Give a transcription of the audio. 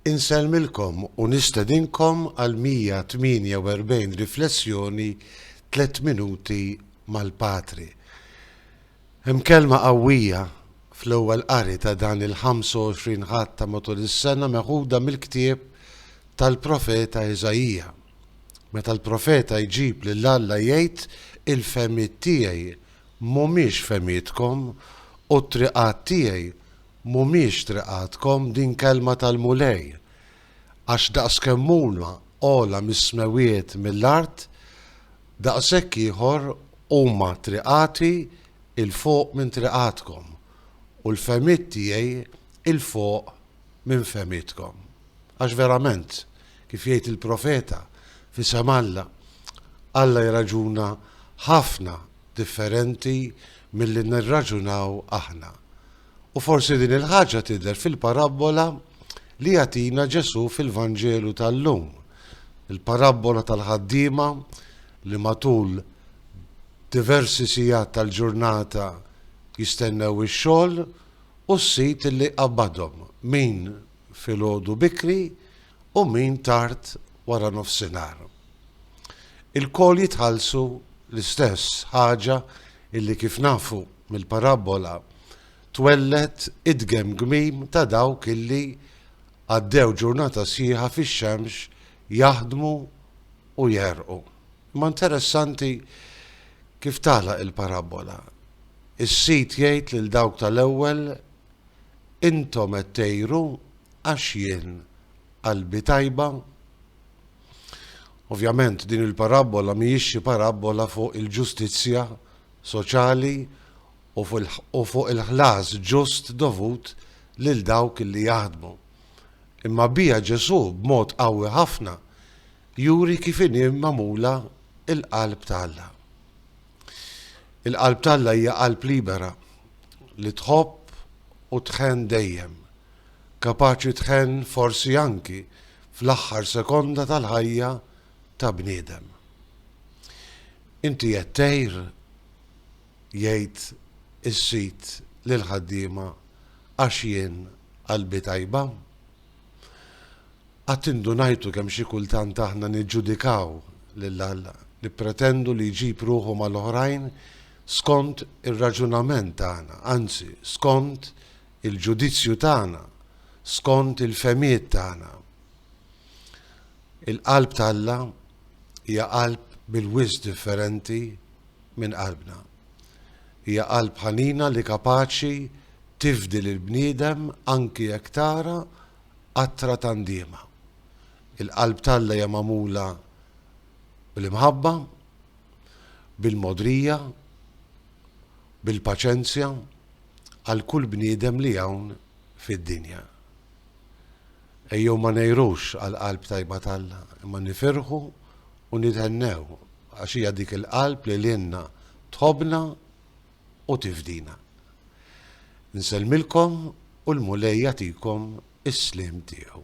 Insellmilkom u nistedinkom għal 148 riflessjoni tliet minuti mal-Patri. Hemm kelma qawwija fl-ewwel qari ta' dan il-25 Ħadd ta' matul is-sena meħuda mill-ktieb tal-profeta Iżaija. Meta l-profeta jġib lil Alla jgħid, Il-fehmiet tiegħi m'humiex fehmietkom u t-triqat tiegħi Mhumiex triqatkom, din kelma tal-Mulej, għax daqskemm huma ogħla mis-smewwiet mill-art, daqshekk ieħor huma triqati 'l fuq minn triqatkom, u l-fehmiet tiegħi 'l fuq minn fehmietkom. Għax verament, kif jgħid il-profeta, f'isem Alla, Alla jirraġuna ħafna differenti milli nirraġunaw aħna. U forsi din il-ħaġa tidher fil-parabbola li jagħtina Ġesù fil-Vanġelu tal-lum. Il-parabbola tal-ħaddiema li matul diversi sigħat tal-ġurnata jistennew ix-xogħol u s-sid li jqabbadhom, min filgħodu bikri u min tard wara nofsinhar. Ilkoll jitħallsu l-istess ħaġa illi kif nafu mill-parabbola twelled id-gemgmim ta' dawk illi għaddew ġurnata sħiħa fix-xemx jaħdmu u jegħrqu. Imma interessanti kif tagħlaq il-parabbola. Is-sid jgħid lil dawk tal-ewwel, Intom qed tegħru għax jien qalbi tajba? Ovvjament din il-parabbola mhijiex xi parabbola fuq il-ġustizzja soċjali u fuq il-ħlas ġust dovut lil dawk li jaħdmu. Imma biha Ġesù b'mod qawwi ħafna juri kif inhi magħmula l-qalb ta' Alla. Il-qalb ta' Alla hija qalb libera li tħobb u tħenn dejjem. kapaċi tħenn forsi anki fl-aħħar sekonda tal-ħajja ta' bniedem. Inti qed tgħir? jgħid is-sid lill-ħaddiema għax jien qalbi tajba? Qatt indunajtu kemm xi kultant aħna niġġudikaw lil Alla, nippretendu li jġib ruħu mal-oħrajn skont ir-raġunament tagħna, anzi skont il-ġudizzju tagħna, skont il-fehmiet tagħna. Il-qalb t'Alla hija qalb bil-wisq differenti minn qalbna. Hija qalb ħanina li kapaċi tifdi lill-bniedem anki jekk tara qatra ta' ndiema. Il-qalb t'Alla hija magħmula bl-imħabba, bil-mogħdrija, bil-paċenzja. għal kull bniedem li hawn fid-dinja. Ejjew ma ngħirux għall-qalb tajba t'Alla, imma nifirħu u nithennew għax hija dik il-qalb li lilna tħobbna u tifdina. Nsellmilkom u l-Mulej jagħtikom is-sliem tiegħu.